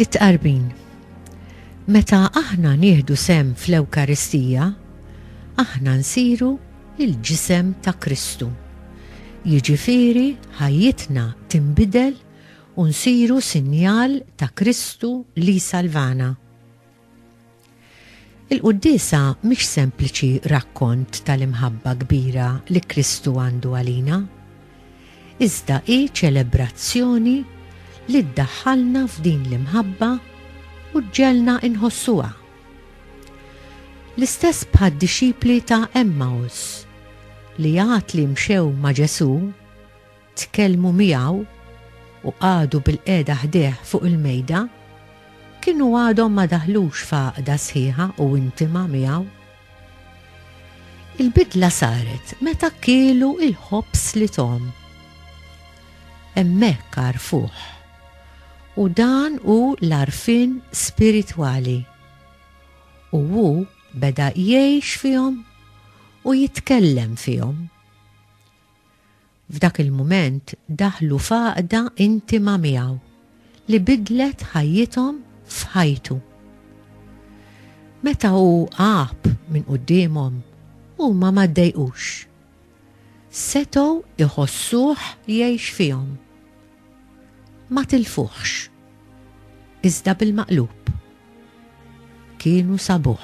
It-tqarbin. Meta aħna nieħdu sem fl-Ewkaristija, aħna nsiru il-ġisem ta' Kristu. Jiġifieri ħajjitna tinbidel u nsiru sinjal ta' Kristu li salvana. Il-Quddiesa mhix sempliċi rakkont tal-imħabba kbira li Kristu għandu għalina, iżda hi ċelebrazzjoni li ddaħħalna f'din l-imħabba u ġġegħelna nħossuha. L-istess bħad-dixxipli ta' Emmaus, li għad li mxew ma' Ġesù, tkellmu miegħu u qagħdu bilqiegħda ħdejh fuq il-mejda, kienu għadhom ma daħlux f'għaqda sħiħa u intima miegħu. Il-bidla saret meta kielu l-ħobż li tom. Hemmhekk għarfuh. U dan hu l-għarfien spiritwali. U hu beda jgħix fihom u jitkellem fihom. F'dak il-mument daħlu f'għaqda intima miegħu li bidlet ħajjithom f'ħajtu. Meta hu għab minn quddiemhom, huma ma ddejqux. Setgħu jħossuh jgħix fihom. Ma tilfuhx, iżda bil-maqlub kienu sabuh.